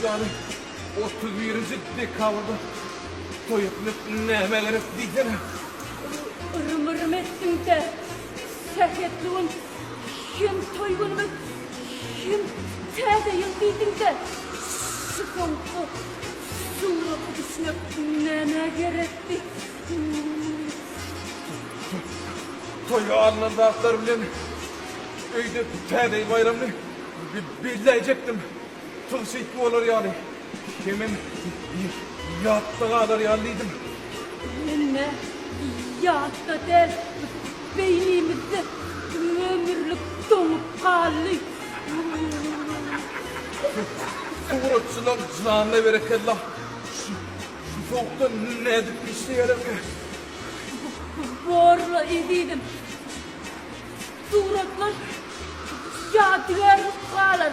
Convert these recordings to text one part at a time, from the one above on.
ýaly otuz birinji dekabrda toý etmek näme gerek diýsene. Ürüm-ürüm etdiň-de, sähetli gün Hem toý günümiz, hem Täze ýyl diýdiň-de, şu soňky suraty düşmek nämä gerekdi? Toýa alnan zatlar bilen öýde Täze ýyl baýramyny belläýjekdim. Tygşytly bolar ýaly. Hemem bir ýatda galar ýaly diýdim. Hemme ýatda däl, beýnimizde tümömürlik doňup galdy. Suratçylar janyna berekella. Şu sowukda nädip işleýärerkä? Bor-la ezizim. Suratlar ýadygärlik galar.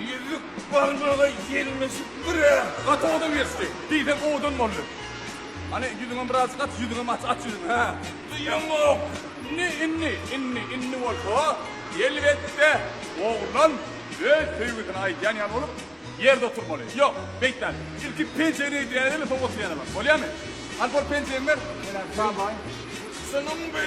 Ýüzük barmaga ýelmeşip bir-ä. Gaty owadan geçdi. Diýseň owadan boldy. Hany, ýüzüňem birazjyk aç, ýüzüňem aç, aç ýüzüňi, hä? Duýamok. Indi, indi, indi, indi bolsa, elbetde, oglan öz söýgüsini aýdýan ýaly bolup, ýerde oturmaly. Ýok, beýtmäli. Ilki penjegini eýdýäýeli, soň oturýan ýalam. Bolýamy? Alp ol penjegiňi ber. Menem çabaýyn. Şunuňby?